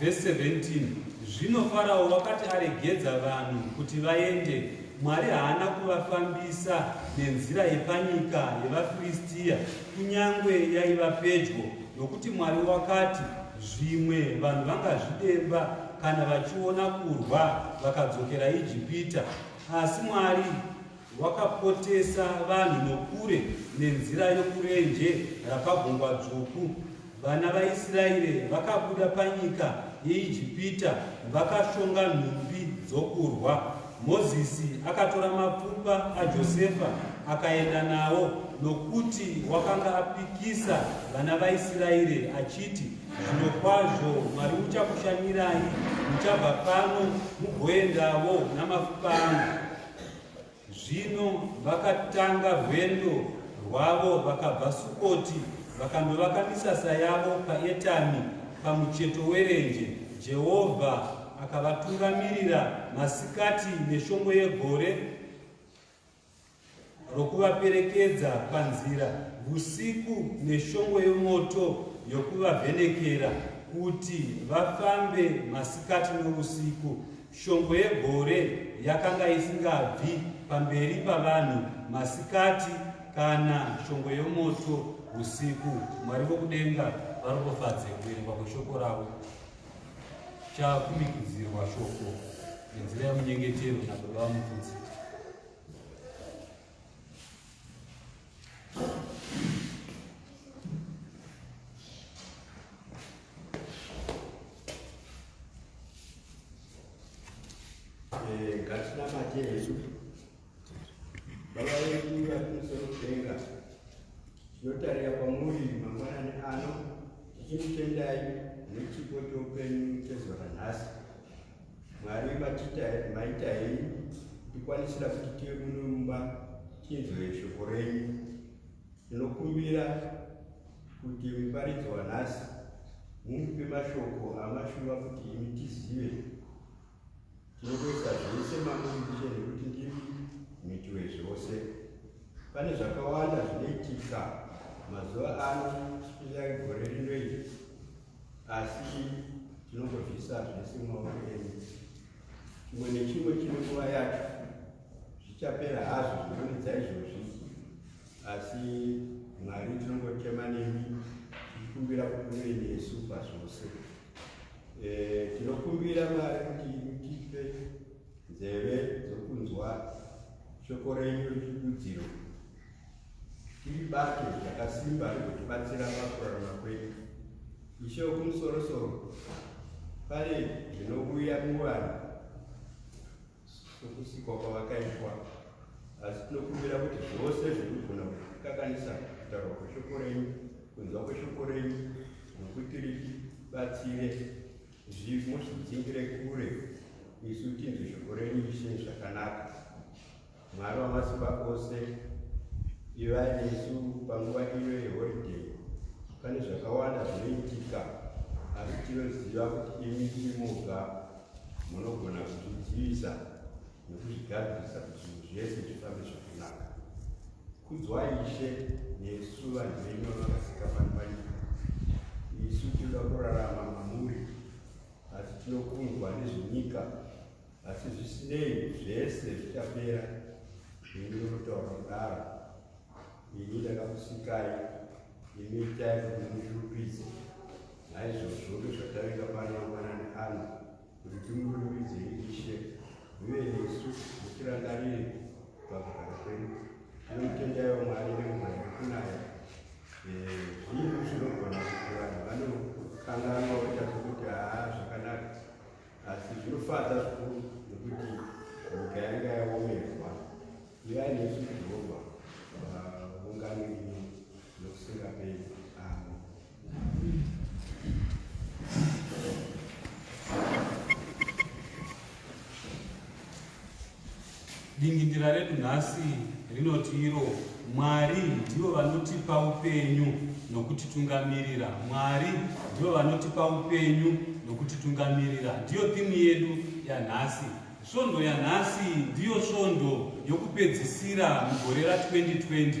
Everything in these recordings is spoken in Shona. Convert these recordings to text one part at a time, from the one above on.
Vhesi 17 Zvino Farao wakati aregedza vanhu kuti vaende, Mwari haana kuvafambisa nenzira yepanyika yevaFiristia, kunyange yaiva pedyo, nokuti Mwari wakati, Zvimwe vanhu vangazvidemba kana vachiona kurwa vakadzokera Ijipita. Asi Mwari Wakapotesa vanhu nokure nenzira yokurenje rapaGungwa Dzvuku. Vana vaIsraeri vakabuda panyika yeIjipita vakashonga nhumbi dzokurwa. Mozisi akatora mapfupa aJosefa akaenda nawo nokuti wakanga apikisa vana vaIsraeri achiti, Zvirokwazvo Mwari uchakushanyirai, muchabva pano mugoendavo namafupa angu. Zvino vakatanga rwendo rwavo vakabva Sukoti vakandovaka misasa yavo paEtami pamucheto werenje. Jehovha akavatungamirira masikati neshongwe yegore rokuvaperekedza panzira, usiku neshongwe yomoto yokuvavhenekera kuti vafambe masikati nousiku. Shongwe yegore yakanga isingabvi pamberi pavanhu masikati kana shongwe yomoto usiku. Mwari vokudenga varopofadze kuverengwa kweshoko ravo. Chakumikidzirwa shoko nenzira yemunyengetero nababa vamukudzi. Jesu. Baba wedu vari kumusoro kudenga, tinotarira kwamuri mangwanani ano tichikutendai nechipo choupenyu chezuva ranhasi. Mwari matita maita henyu ndikwanisira kuti tiye muno mumba tinzwe shoko renyu. Ndinokumbira kuti muparidzi wanhasi mumupe mashoko amashuva kuti imi tizive. Tinokuisa zvese mamuitishe nekuti ndimi miti wezvose. Pane zvakawanda zvinoitika mazuva ano, spesiali gore rino iri. asi tinongozviisa zvese mumaoko enyu chimwe nechimwe chine nguva yacho zvichapera hazvo zvinonidza izvozvi asi mwari tinongochema nemi tichikumbira kuti muve nesu pazvose eh, tinokumbira mwari kuti mutipe nzeve dzokunzwa shoko renyu rechidudziro Tiri bato rakasimba rinotibatsira pakurarama kwedu. Ishe wokumusorosoro, pane zvinouya muvanhu sokusikwa kwavakaitwa, asi tinokumbira kuti zvose zvinogona kukanganisa kutaurwa kweshoko renyu, kunzwa kweshoko renyu, nokuti ritibatsire zvimo zvitidzingire kure isu tinzwe shoko renyu ishe zvakanaka Mwari wamasimba ose, ivai nesu panguva ino yeholiday. Pane zvakawanda zvinoitika, asi tinoziva kuti imi tiri moga munogona kuzvidzivisa nokuzvigadzirisa kuti zvinhu zvese zvifambe zvakanaka. Kudzwai Ishe nesu vanhu venyu vakasika pano panyika. Isu tinoda kurarama mamuri, asi tinokundwa nezvenyika asi zvisinei zvese zvichapera ini ndinotaura kudaro ini ndakakusikai imi itai kuti mundishupidze naizvozvo ndozvatavinga pano mangwanani ano kuti timurumbidze ishe uye nesu mutirangarire pakugara kwedu tinomutendaiwo mwari nemvura yekunaya zvinhu zvinogona kuti vanhu vanokanganwa voita sokuti haa zvakanaka asi zvinofadza zvikuru nekuti nyika yanga yaomerwa ivai nesu jehovha vaungano ino nokusingaperi amo Dingindira redu nhasi rinoti iro Mwari ndivo vanotipa upenyu nokutitungamirira. Mwari ndivo vanotipa upenyu nokutitungamirira. Ndiyo thimu yedu yanhasi. Svondo yanhasi ndiyo svondo yokupedzisira mugore ra2020.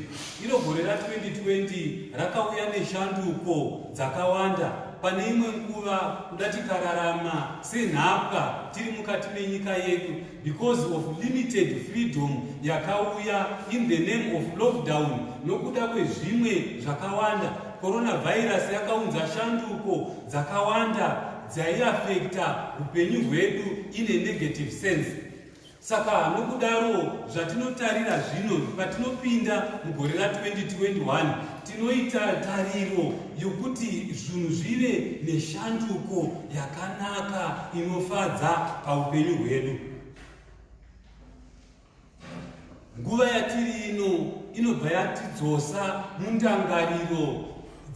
Iro gore ra2020 rakauya neshanduko dzakawanda. Pane imwe nguva kuda tikararama Senhapwa tiri mukati menyika yedu because of limited freedom yakauya in the name of lockdown nokuda kwezvimwe zvakawanda. Coronavirus yakaunza shanduko dzakawanda dzaiafekta upenyu hwedu in a negative sense. Saka nokudaro, zvatinotarira zvino patinopinda mugore ra 2021, tinoita tariro yokuti zvinhu zvive neshanduko yakanaka inofadza paupenyu hwedu. Nguva yatiri ino inobva yatidzosa mundangariro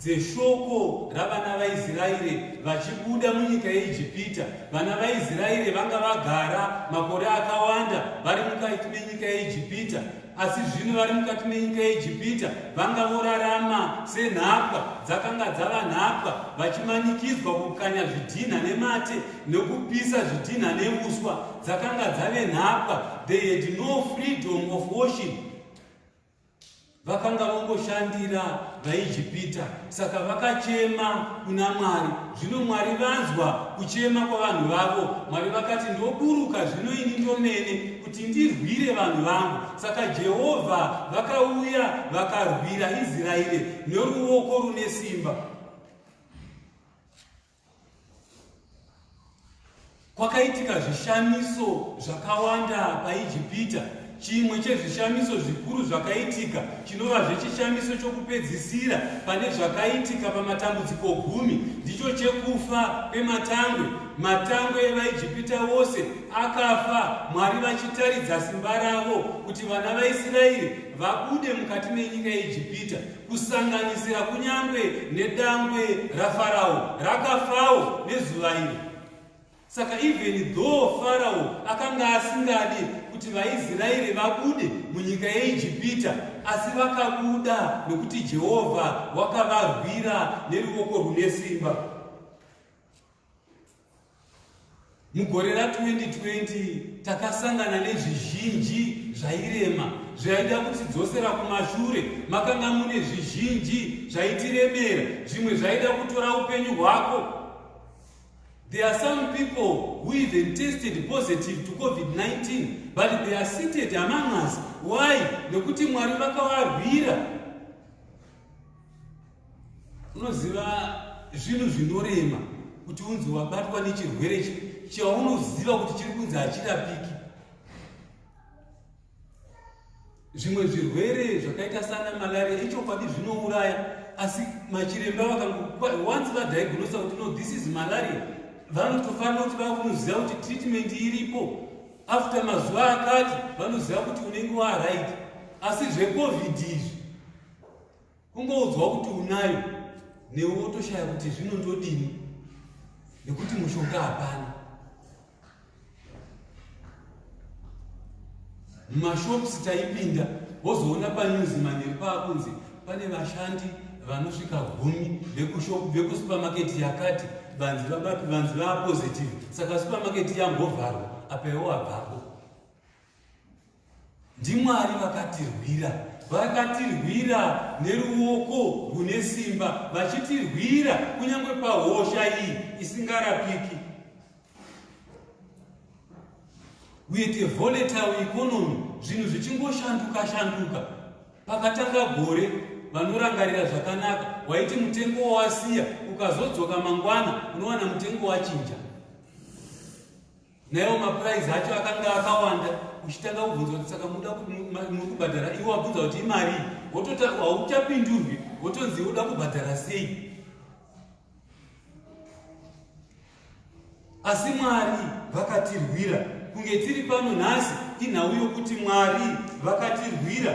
dzeshoko ravana vaIsraeri vachibuda munyika yeIjipita. Vana vaIsraeri vanga vagara makore akawanda vari mukati menyika yeIjipita, asi zvino vari mukati menyika yeijipita vanga vorarama senhapwa dzakanga dzava nhapwa vachimanikidzwa kukanya zvidhinha nemate nokupisa zvidhinha neuswa dzakanga dzave nhapwa they had no freedom of worship vakanga vongoshandira vaijipita saka vakachema kuna mwari zvino mwari vanzwa kuchema kwavanhu vavo mwari vakati ndoburuka zvino ini ndomene kuti ndirwire vanhu vangu saka jehovha vakauya vakarwira israeri neruoko rune simba Kwakaitika zvishamiso zvakawanda paIjipita. Chimwe chezvishamiso zvikuru zvakaitika chinovazve chishamiso chokupedzisira pane zvakaitika pamatambudziko gumi ndicho chekufa kwematangwe. Matangwe evaIjipita vose akafa, Mwari vachitaridza simba ravo kuti vana vaIsraeri vabude mukati menyika yeIjipita. kusanganisira kunyange nedangwe rafarao rakafawo nezuva iri saka even though farao akanga asingadi kuti vaisraeri vabude munyika yeijipita asi vakabuda nokuti jehovha wakavarwira neruvoko rwune simba mugore ra2020 takasangana nezvizhinji zvairema zvaida kutidzosera kumashure makanga mune zvizhinji zvaitiremera zvimwe zvaida kutora upenyu hwako There are some people who even tested positive to COVID-19, but they are seated among us. Why? Nekuti Mwari vakavarwira unoziva zvinhu zvinorema kuti unzi wabatwa nechirwere chi chaunoziva kuti chiri kunzi hachirapiki zvimwe zvirwere zvakaita sana malaria ichokwadi zvinouraya asi machiremba vakangowanzi vadiagnosa kuti no this is malaria vanotofanira kuti vakunoziva kuti treatment iripo after mazuva akati vanoziva kuti unenge waaraiti asi zvecovid izvi kungoudzwa kuti unayo newe wotoshaya kuti zvino ndodini nekuti mushonga hapana mumashops taipinda wozoona panews manheru paakunzi pane vashandi vanosvika gumi vekushop vekusupermarket yakati vanzi vabapi vanzi vaapositive saka supermarket yambovharwa apa iwo abvapo NdiMwari vakatirwira, vakatirwira neruoko rune simba, vachitirwira kunyange pahosha iyi isingarapiki. We had a volatile economy, zvinhu zvichingoshanduka shanduka. Pakatanga gore, vanorangarira zvakanaka, waiti mutengo wawasiya, ukazodzoka mangwana unowana mutengo wachinja. Naiwo mapuraizi acho akanga akawanda uchitanga kubvunza kuti saka muda muri kubhadhara iwe wabvunza kuti imarii hauchapindurwi wotonzi uda kubhadhara sei asi mwari vakatirwira kunge tiri pano nhasi inhau yokuti mwari vakatirwira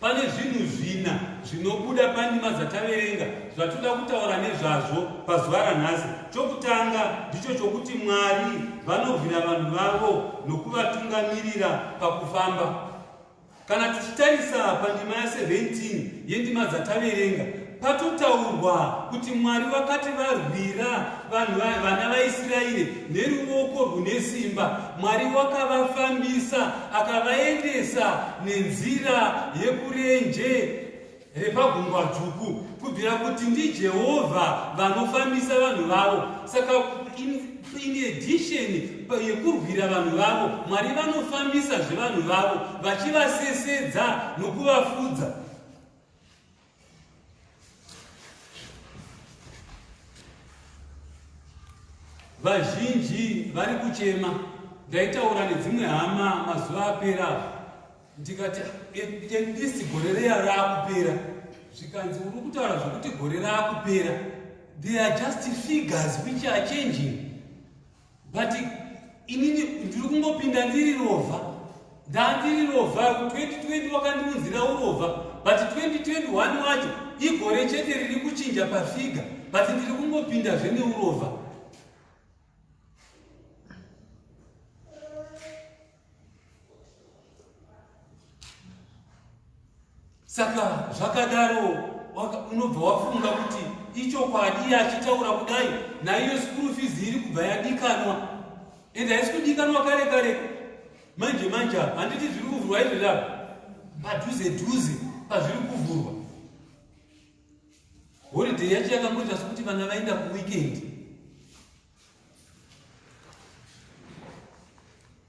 Pane zvinhu zvina zvinobuda pandima dzataverenga zvatoda kutaura nezvazvo pazuva ranhasi. Chokutanga ndicho chokuti Mwari vanorwira vanhu vavo nokuvatungamirira pakufamba. Kana tichitarisa pandima ya17 yendima dzataverenga, Patotaurwa kuti Mwari vakati varwira vanhu vana vaIsraeri neruvoko rwune simba, Mwari wakavafambisa akavaendesa nenzira yekurenje repagungwa dzvuku, kubvira kuti ndiJehovha vanofambisa vanhu vavo. Saka in addition yekurwira vanhu vavo, Mwari vanofambisa zvevanhu vavo vachivasesedza nokuvafudza. vazhinji vari kuchema ndaitaura nedzimwe hama mazuva apera avo ndikati endisi gore reya raakupera zvikanzi uri kutaura zvekuti gore raakupera they are just figures which are changing but inini ndiri kungopinda ndiri rovha ndandiri rovha 2020 wakandiunzira urovha but 2021 wacho igore chete riri kuchinja pafiga but ndiri kungopinda zveneurova saka zvakadaro unobva wafunga kuti ichokwadi iye achitaura kudai naiyo skuru fizi iri kubva yadikanwa ende haisi kudikanwa kare kare manje manje apa handiti zviri kuvhurwa izvi zvapo padhuze dhuze pazviri kuvhurwa holiday yacho yakangoita sokuti vana vaenda kuweekend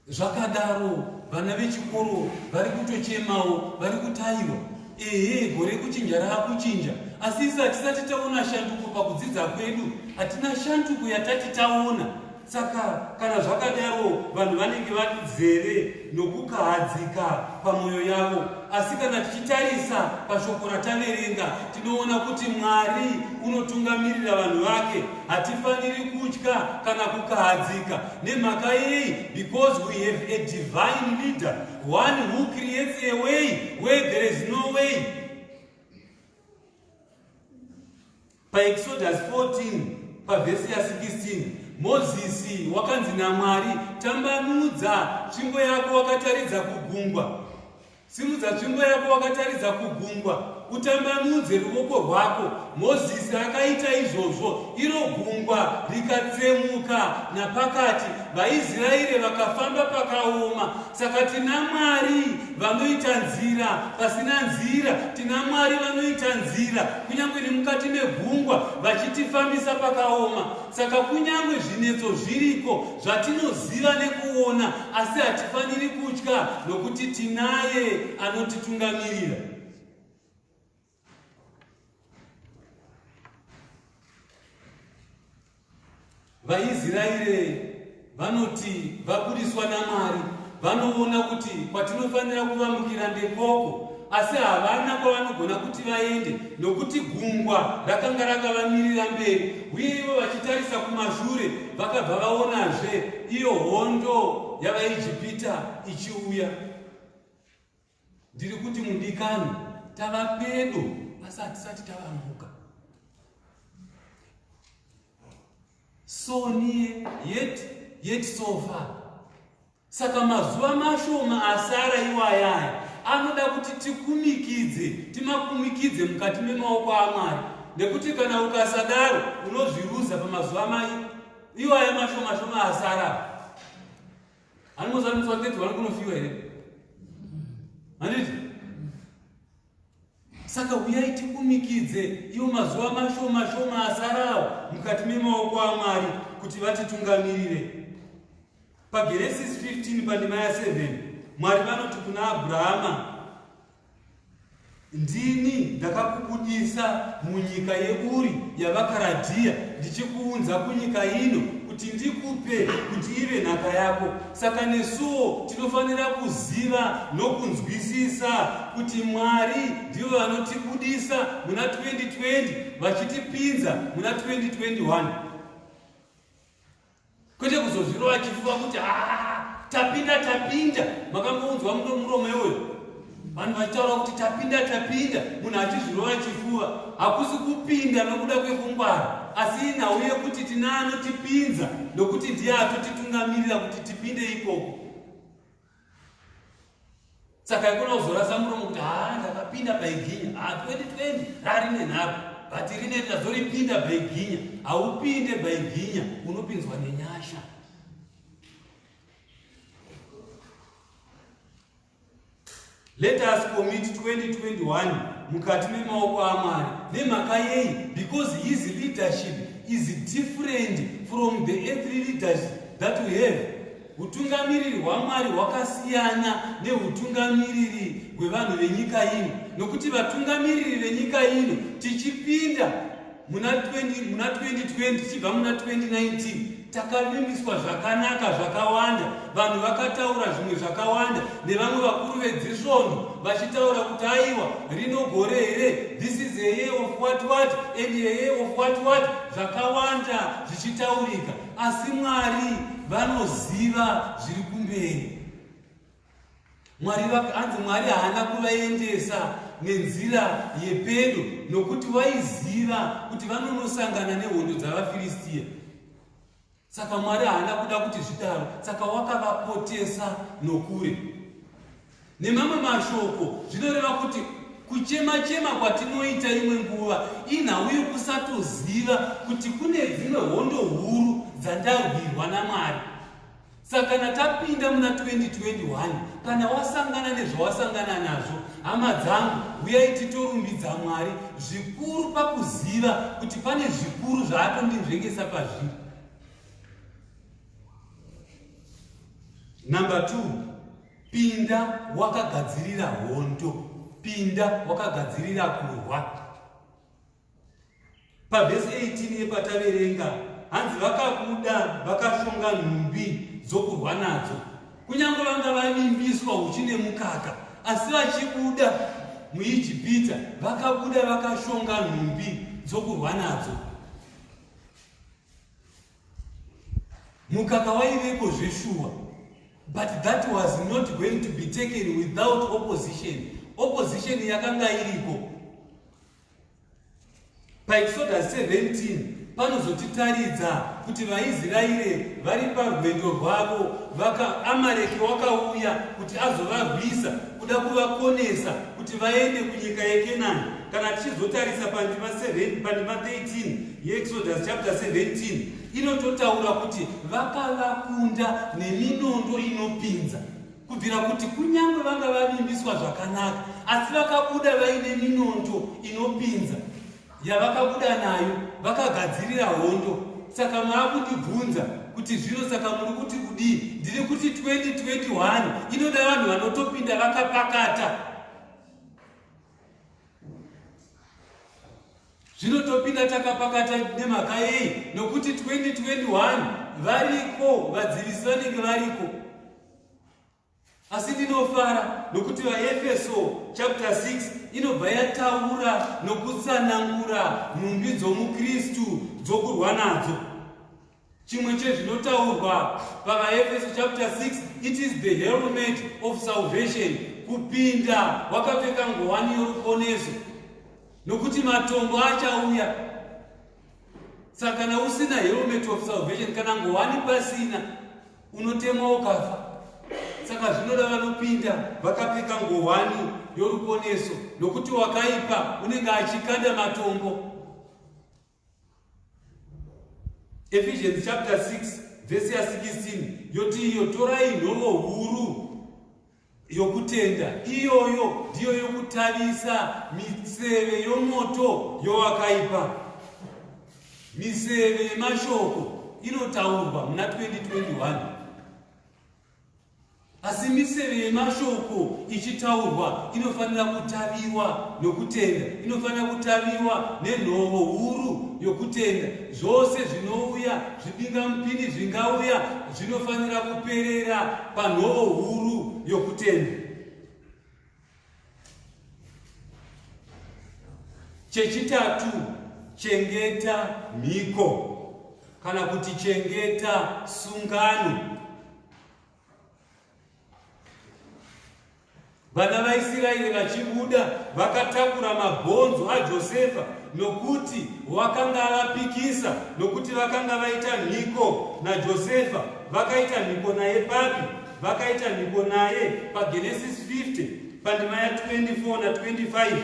zvakadaro vana vechikoro vari kutochemawo vari kutayiwa ehe gore kuchinja raakuchinja asi isi hatisati taona shanduko pakudzidza kwedu hatina shanduko yatati taona saka kana zvakadaro vanhu vanenge vazere nokukahadzika pamwoyo yavo. Asi kana tichitarisa pashoko rataverenga, tinoona kuti Mwari unotungamirira vanhu vake. Hatifaniri kutya kana kukahadzika. Nemhaka yei? Because we have a divine leader, one who creates a way where there is no way. PaExodus 14 pavhesi ya 16 Mozisi wakanzi naMwari, tambanudza tsvimbo yako wakataridza kugungwa, simudza tsvimbo yako wakataridza kugungwa utambanudze ruoko rwako mozisi akaita izvozvo iro gungwa rikatsemuka napakati vaisraeri vakafamba pakaoma Saka tina Mwari vanoita nzira pasina nzira, tina Mwari vanoita nzira kunyange nemukati megungwa vachitifambisa pakaoma. Saka kunyange zvinetso zviriko zvatinoziva nekuona, asi hatifaniri kutya nokuti tinaye anotitungamirira. vaisraeri vanoti vabudiswa namwari vanoona kuti kwatinofanira kuvamukira ndekoko asi havana kwavanogona kuti vaende nokuti gungwa rakanga rakavamirira mberi uye ivo vachitarisa kumashure vakabva vaonazve iyo hondo yavaijipita ichiuya Ndiri kuti mudikani tava pedo asi hatisati tavamuka. So near yet yet so far. Saka mazuva mashoma asara iwayaya anoda kuti tikumikidze, timakumikidze mukati memaoko aMwari nekuti kana ukasadaro unozviruza pamazuva mai iwaya mashoma shoma asara. Anozarisa 30 vari kunofiwa here? Handiti? Saka huyai tikumikidze iwo mazuva mashoma shoma asarawo mukati memaoko aMwari kuti vatitungamirire. PaGenesis 15 pandima ya 7 Mwari vanoti kuna Abrahama Ndini ndakakubudisa munyika yeUri yavaKaradhiya ndichikuunza kunyika ino kuti ndikupe kuti ive nhaka yako. Saka nesuwo tinofanira kuziva nokunzwisisa kuti Mwari ndivo vanotibudisa muna 2020 vachitipinza muna 2021. kwete kuzozvirova chifuva kuti haa tapinda tapinda makangounzwa muno muromo iwoyo vanhu vachitaura kuti tapinda tapinda munhu achizvirova chifuva hakusi kupinda nokuda kwekungwara asi nhau yekuti tina anotipinza nokuti ndiye atotitungamirira kuti tipinde ikoko saka ikona kuzorasa muromo kuti haa ndakapinda baiginya haa 2020 rarine nharo but rine ndazoripinda baiginya haupinde baiginya unopinzwa nenyasha Let us commit 2021 mukati memaoko aMwari. Nemhaka yei? Because his leadership is different from the earthly leaders that we have. Hutungamiriri hwaMwari hwakasiyana nehutungamiriri hwevanhu venyika ino, nokuti vatungamiriri venyika ino tichipinda muna 20 muna 2020 tichibva muna 2019 takavimbiswa zvakanaka zvakawanda vanhu vakataura zvimwe zvakawanda nevamwe vakuru vedzisvondo vachitaura kuti aiwa rino gore here this is a year of what what and a year of what what zvakawanda zvichitaurika asi mwari vanoziva zviri kumberi mwari vakanzi mwari haana kuvaendesa nenzira yepedo nokuti vaiziva kuti vanonosangana nehondo dzavafiristiya saka mwari haana kuda kuti zvidaro saka wakavapotesa nokure nemamwe mashoko zvinoreva kuti kuchema chema kwatinoita imwe nguva inhau yekusatoziva kuti kune dzimwe hondo huru dzandarwirwa namwari Saka kana tapinda muna 2021, kana wasangana nezvawasangana nazvo, hama dzangu, huyai titorumbidza Mwari zvikuru pakuziva kuti pane zvikuru zvaatondinzvengesa pazviri. Number two, pinda wakagadzirira hondo, pinda wakagadzirira kurwa. Pavhesi 18 yepataverenga hanzi vakabuda vakashonga nhumbi dzokurwa nadzo kunyange vanga vavimbiswa uchi nemukaka asi vachibuda muijipita vakabuda vakashonga nhumbi dzokurwa nadzo mukaka waiveko zveshuwa but that was not going to be taken without opposition opposition yakanga iriko paExodus 17 panozotitaridza kuti vaisraeri vari parwendo rwavo vaka amareki wakauya kuti azovarwisa kuda kuvakonesa kuti vaende kunyika yekenani kana tichizotarisa pandima 7 pandima 13 yeexodus chapter 17 inototaura kuti vakavakunda neminondo inopinza kubvira kuti kunyange vanga vavimbiswa zvakanaka asi vakabuda vaine minonto inopinza yavakabuda nayo vakagadzirira hondo saka maakundibvunza kuti zvino saka muri kuti kudii ndiri kuti 2021 inoda vanhu vanotopinda vakapakata zvino topinda takapakata nemhaka yei nokuti 2021 variko vadzivisi vanenge variko asi ndinofara nokuti vaefeso chapter 6 inobva yataura nokutsanangura nhumbi dzomukristu dzokurwa nadzo chimwe chezvinotaurwa pavaefeso chapter 6 it is the helmet of salvation kupinda wakapfeka ngowani yoruponeso nokuti matombo achauya saka kana usina helmet of salvation kana ngowani pasina unotemwa ukafa saka zvinoda vanopinda vakapfeka ngowani yoruponeso nokuti wakaipa unenge achikanda matombo Ephesians chapter 6 vhesi ya 16 yoti iyo torai nhovo huru yokutenda iyoyo ndiyo yokutavisa miseve yomoto yowakaipa miseve yemashoko inotaurwa muna 2021 Asi miseve yemashoko ichitaurwa inofanira kutaviwa nokutenda, inofanira kutaviwa nenhovo huru yokutenda. Zvose zvinouya, zvibingamupini zvingauya, zvinofanira kuperera panhovo huru yokutenda. Chechitatu, chengeta mhiko kana kuti chengeta sungano. Vana vaIsiraeri vachibuda vakatakura mabhonzo aJosefa nokuti wakanga avapikisa, nokuti vakanga vaita mhiko naJosefa. Vakaita mhiko naye papi? vakaita mhiko naye pagenesis 50 pandima ya 24 na 25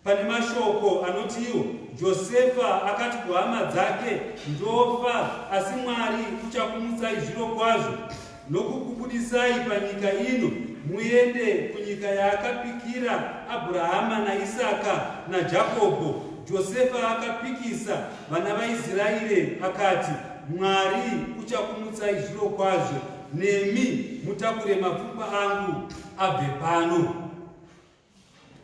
pane mashoko anoti iwo josefa akati kuhama dzake ndofa asi mwari uchakumutsai zviro kwazvo nokukubudisai panyika ino muende kunyika yaakapikira abrahama naisaka najakobho josefa akapikisa Vana vaIsraeri akati, Mwari uchakumutsai zviro kwazvo, nemi mutakure mapfupa angu abve pano.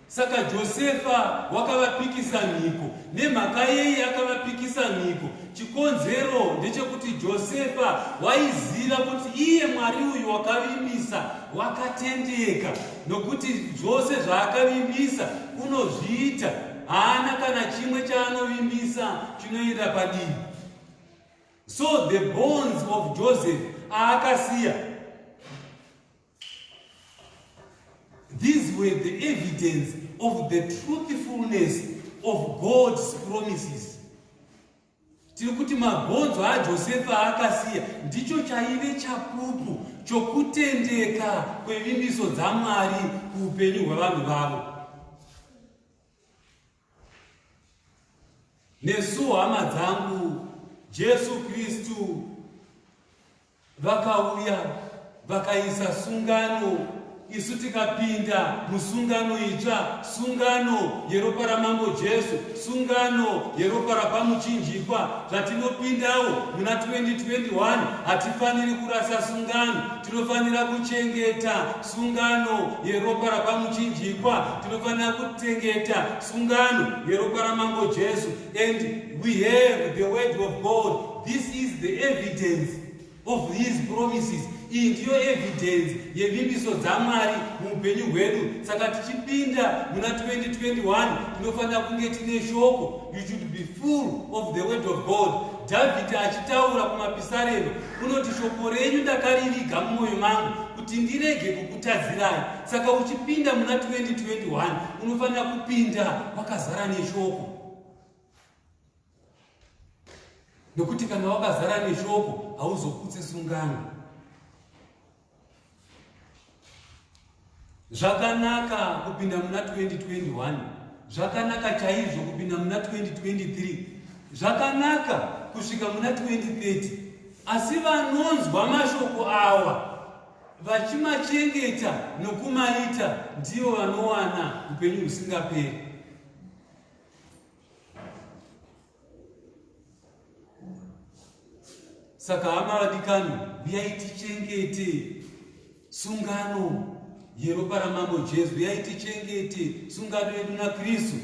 Saka Josefa wakavapikisa mhiko. Nemhaka yei akavapikisa mhiko? Chikonzero ndechekuti Josefa waiziva kuti iye Mwari uyu wakavimbisa wakatendeka, nokuti zvose zvaakavimbisa unozviita. haana kana chimwe chaanovimbisa chinoenda padivi so the bones of joseph aakasiya these were the evidence of the truthfulness of god's promises Tiri kuti mabhonzo aJosefa aakasiya ndicho chaive chapupu chokutendeka kwevimbiso dzaMwari kuupenyu hwevanhu vavo. Nesuwo hama dzangu, Jesu Kristu vakauya vakaisa sungano isu tikapinda musungano itsva sungano yeropa ramambo jesu sungano yeropa rapamuchinjikwa zvatinopindawo muna 2021 hatifaniri kurasa sungano tinofanira kuchengeta sungano yeropa rapamuchinjikwa tinofanira kuchengeta sungano yeropa ramambo jesu and we have the word of god This is the evidence of his promises. Iyi ndiyo evidence yevimbiso dzaMwari muupenyu hwedu. Saka tichipinda muna 2021 tinofanira kunge tine shoko. You should be full of the word of God. Dhavhidhi achitaura kumapisarero unoti shoko renyu ndakariviga mumwoyo mangu kuti ndirege kukutadzirai. Saka uchipinda muna 2021 unofanira kupinda wakazara neshoko. nokuti kana wakazara neshoko hauzoputsi sungano zvakanaka kupinda muna 2021 zvakanaka chaizvo kupinda muna 2023 zvakanaka kusvika muna 2030 asi vanonzwa mashoko awa vachimachengeta nokumaita ndivo vanowana upenyu husingaperi saka hama vadikani uyai tichengete sungano yeropa ramambo jesu uyai tichengete sungano yedu nakristu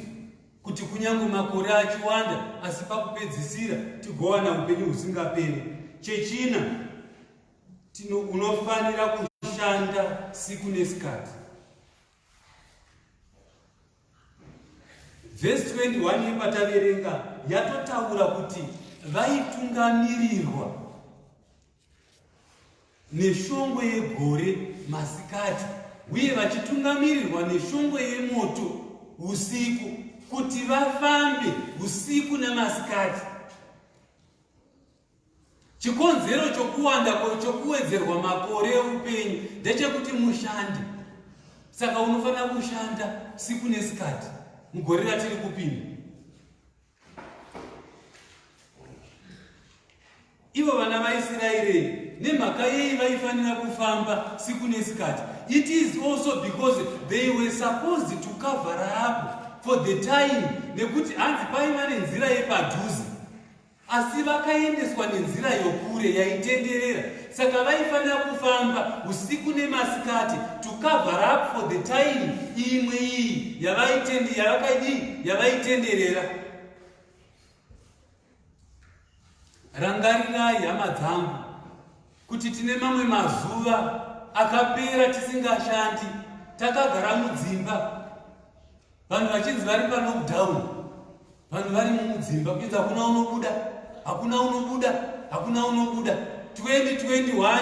kuti kunyange makore achiwanda asi pakupedzisira tigowana upenyu husingaperi chechina unofanira kushanda siku nesikati Vhesi 21 yepataverenga yatotaura kuti vaitungamirirwa neshongwe yegore masikati uye vachitungamirirwa neshongwe yemoto usiku kuti vafambe usiku nemasikati Chikonzero chokuwanda chokuwedzerwa makore eupenyu ndechekuti mushande. Saka unofanira kushanda siku nesikati mugore ratiri kupinda. Ivo vana vaIsiraeri nemhaka yei vaifanira kufamba siku nesikati it is also because they were supposed to cover up for the time nekuti hanzi paiva nenzira yepadhuze Asi vakaendeswa nenzira yokure yaitenderera, saka vaifanira kufamba usiku nemasikati to cover up for the time imwe iyi yavaitende yavakaidii yavaitenderera. Rangarirai hama dzangu kuti tine mamwe mazuva akapera tisingashandi takagara mudzimba vanhu vachinzi vari palockdown vanhu vari mudzimba kuinzi hakuna unobuda hakuna unobuda hakuna unobuda 2021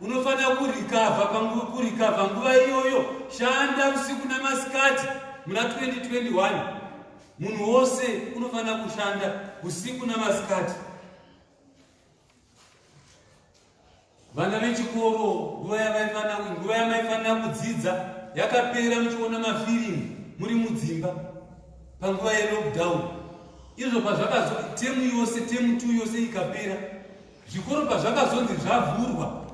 unofanira kurikavha panguva kurikavha nguva iyoyo shanda usiku namasikati muna 2021 munhu wose unofanira kushanda usiku namasikati vana vechikoro nguva yavaifanira nguva yamaifanira kudzidza yakapera muchiona mafirimu muri mudzimba panguva yelockdown izvo pazvakazo temu yose temu t yose ikapera zvikoro pazvakazonzi zvavhurwa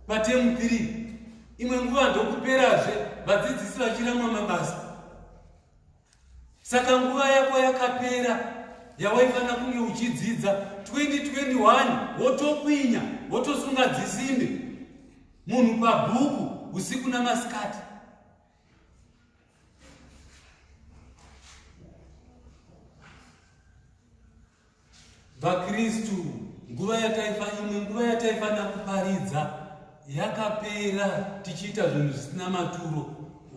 patemu tiri imwe nguva ndokuperazve vadzidzisi vachiramwa mabasa Saka nguva yako yakapera yawaifanira kunge uchidzidza 2021 wotokwinya wotosunga dzisimbe munhu pabhuku usiku namasikati VaKristu nguva yataifa imwe nguva yataifanira kuparidza yakapera tichiita zvinhu zvisina maturo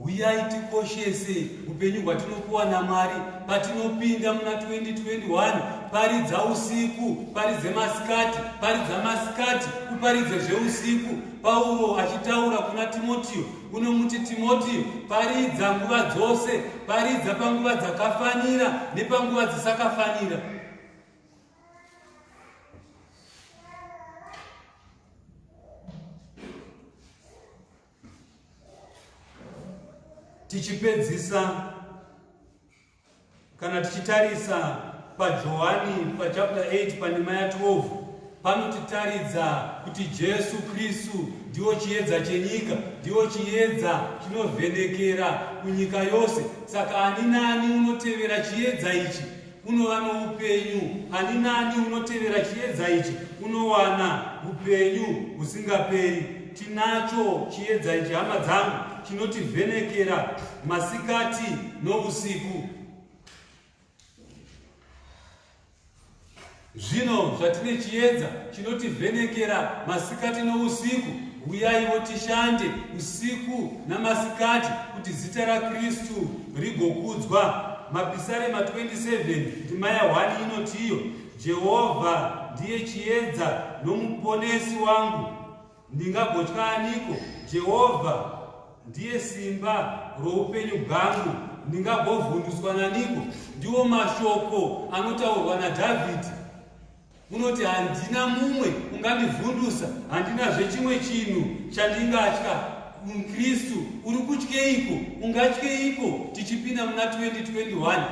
huyai tikoshese upenyu hwatinopuwa namwari patinopinda muna 2021 paridza usiku paridze masikati paridza masikati uparidze zveusiku pauro achitaura kuna timotiyo unomuti Timotio, paridza nguva dzose, paridza panguva dzakafanira nepanguva dzisisakafanira. Tichipedzisa Kana tichitarisa paJohani pachapter 8 pandima ya12 panotitaridza kuti Jesu Kristu ndiwo chiedza chenyika, ndiwo chiedza chinovhenekera kunyika yose. Saka ani nani unotevera chiedza ichi unova noupenyu, ani nani unotevera chiedza ichi unowana upenyu husingaperi. Tinacho chiedza ichi, hama dzangu, chinotivhenekera masikati nousiku. Zvino zvatine chiedza chinotivhenekera masikati nousiku, huyaiwo tishande usiku namasikati kuti zita raKristu rigokudzwa. Mapisarema 27 ndima ya 1 inotiyo, Jehovha ndiye chiedza nomuponesi wangu, Ndingagotya aniko? Jehovha ndiye simba roupenyu bwangu. Ndingagovhundutswa naniko? Ndiwo mashoko anotaurwa naDhavhidhi. Unoti, handina mumwe ungandivhundusa, handinazve chimwe chinhu chandingatya. Mukristu uri kutyeiko? Ungatyeiko tichipinda muna 2021?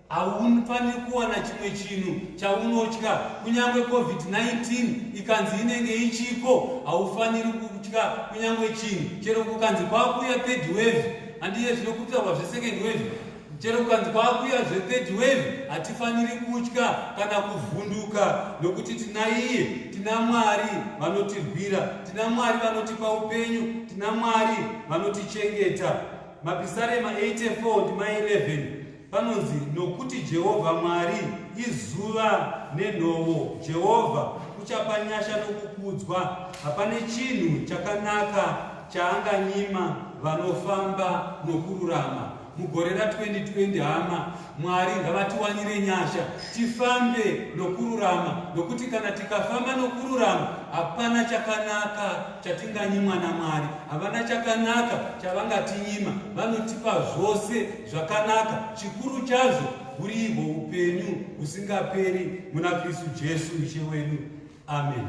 Haufaniri kuwana chimwe chinhu chaunotya, kunyange COVID-19 ikanzi inenge ichiko, haufaniri kutya kunyange chinhu. Chero kukanzi kwakuya third wave, handiye zvinokutaurwa zvesecond wave, chero kukanzi kwakuya zvethird wave, hatifaniri kutya kana kuvhunduka, nokuti tina iye, tina Mwari vanotirwira, tina Mwari vanotipa upenyu, tina Mwari vanotichengeta. Mapisarema 84 ndima 11. Panonzi nokuti Jehovha Mwari izuva nenhovo. Jehovha uchapa nyasha nokukudzwa. Hapane chinhu chakanaka chaanganyima vanofamba nokururama. Mugore ra 2020 hama Mwari ngavatiwanire nyasha tifambe nokururama nokuti kana tikafamba nokururama hapana chakanaka chatinganyimwa naMwari. Havana chakanaka chavangatinyima, vanotipa zvose zvakanaka chikuru chazvo huri ihwo upenyu husingaperi muna kristu jesu ishe wedu ameni